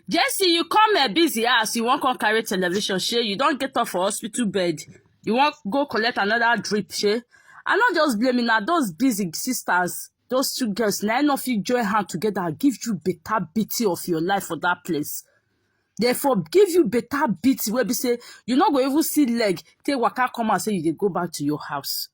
Jesse, you come a busy ass, you won't come carry television, she. You don't get off for hospital bed. You won't go collect another drip, she. I not just blaming now those busy sisters, those two girls, nine of you join hand together, give you better beating of your life for that place. Therefore, give you better beating where be say you not go even see leg, take waka come and say you dey go back to your house.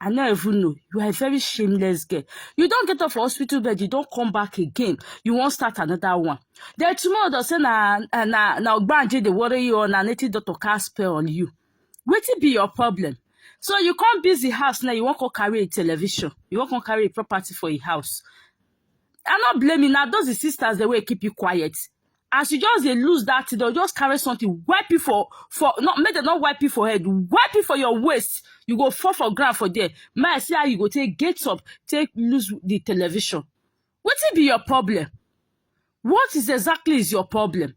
I no even know. You are a very shameless girl. You don't get off for hospital bed, you don't come back again. You won't start another one. Then tomorrow they'll say na na na na Ogbanje dey worry you or na native doctor cast spell on you. Wetin be your problem? So you come busy house now, you won't come carry a television. You won't come carry a property for a house. I'm not blaming now. Those the sisters the way keep you quiet. as you just dey lose that thing dem just carry something wipe you for for not make dem not wipe you for head wipe you for your waist you go fall for ground for there may i see how you go take get up take lose the television wetin be your problem what is exactly is your problem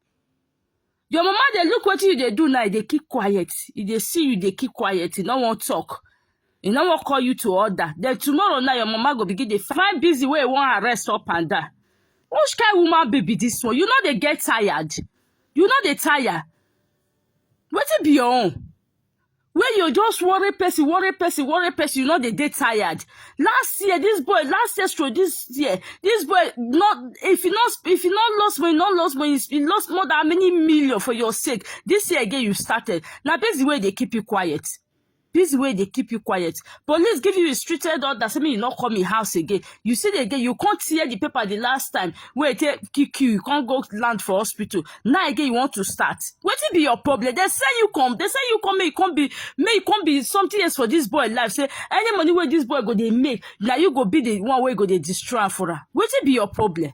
your mama dey look wetin you dey do now e dey keep quiet e dey see you dey keep quiet e no wan talk e no wan call you to order then tomorrow now your mama go begin dey find busy wey e wan arrest up and down which kind woman baby be this one you no dey get tired you no dey tire wetin be your own wey you just worry person worry person worry person you no dey dey tired last year this boy last year stroke this year this boy no if you no if you no lost money no lost money you lost more than many million for your sake this year again you started na busy wey dey keep you quiet This way they keep you quiet. Police give you restricted order, say me you not come in house again. You see the again, you can't tear the paper the last time. Wait, take kick you, you can't go land for hospital. Now again you want to start. What be your problem? They say you come, they say you come, may you come be, may you come be something else for this boy life. Say any money where this boy go they make, now you go be the one where go they destroy for her. What be your problem?